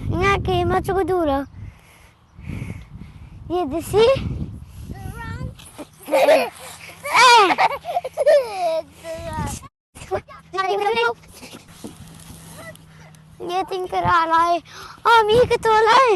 Nga keimah cu ka duh lo. Ye the sea. Ye ting kara lai. Ami ka to lai.